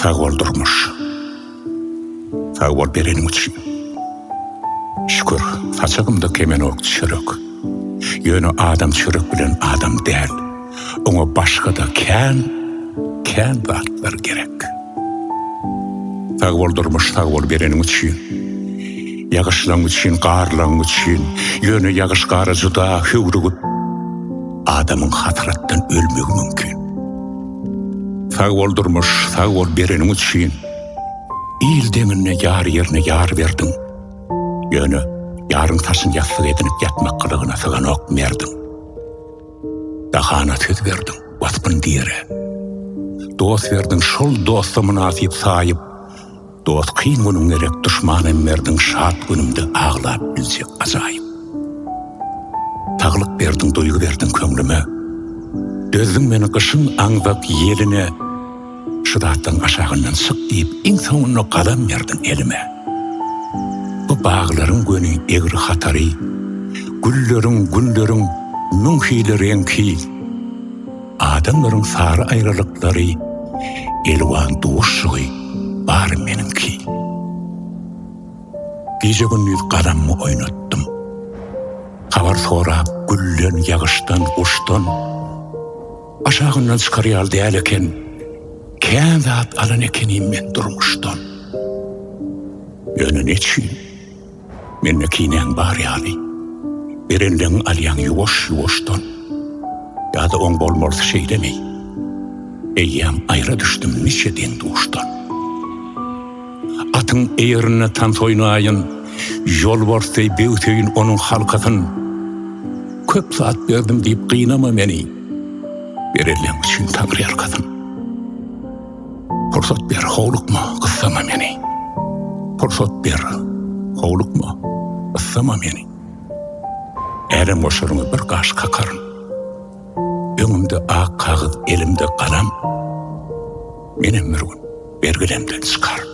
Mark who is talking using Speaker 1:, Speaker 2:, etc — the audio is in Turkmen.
Speaker 1: Sag bol durmuş. Sag bol bereniň üçin. Şükür, saçagymda kemenok çörek. Ýöne adam çörek bilen adam däl. Oňa başga-da kän, kän zatlar gerek. Sag bol durmuş, sag bol bereniň üçin. Ýagyşlaň üçin, garlaň üçin. Ýöne ýagyş-gara juda höwrügip, adamyň hasratdan ölmegi mümkin. Sag bol durmuş sag bol bereniň üçin Il deňinde ýar ýerine ýar berdiň Ýöne ýaryň saçyn ýassyk edinip ýatmak gylygyna syganok merdiň Dahana söz berdiň waspyn diýere Dost berdiň şol dosta mynasyp saýyp Dost kyn günüň gerek duşmanym berdiň şat günümde aglap biljek ajaýyp Saglyk berdiň duýgy berdiň köňlüme Dözdüň meni gyşyň aňzak ýeline Şu datlaň aşagyndan çyk diýip iň soňunda galam berdiň elime Bu baglaryň göni egri hatary Gülleriň günleriň müň hili reňki Adamlaryň sary aýralyklary Elwan duşugy bar meniňki Gije-gündiz gadammy oýnatdym Habar sorap gülden, ýagyşdan, guşdan Aşagyndan çykar ýaly däl eken Kän zat alan ekenim men durmuşdan Ýöne neçün? Mende kinäň bar ýaly. Berenleň alýaň ýuwaş-ýuwaşdan. Ýa-da oň bolmalysy şeýlemi? Eýýäm aýra düşdüm niçe deň-duşdan. Atyň eýerinde tans oýnaýyn, Ýolbars deý böwseýin onuň halkasyn. Köp zat berdim diýip gynama meni, Berenleň üçin Taňryýalkasyn. Pursat ber, howlukma, gyssama meni. Pursat ber, howlukma, gyssama meni. Älem goşaryňa bir gaş kakaryn. Öňümde ak kagyz, elimde galam. Menem bir gün bergilemden çykaryn.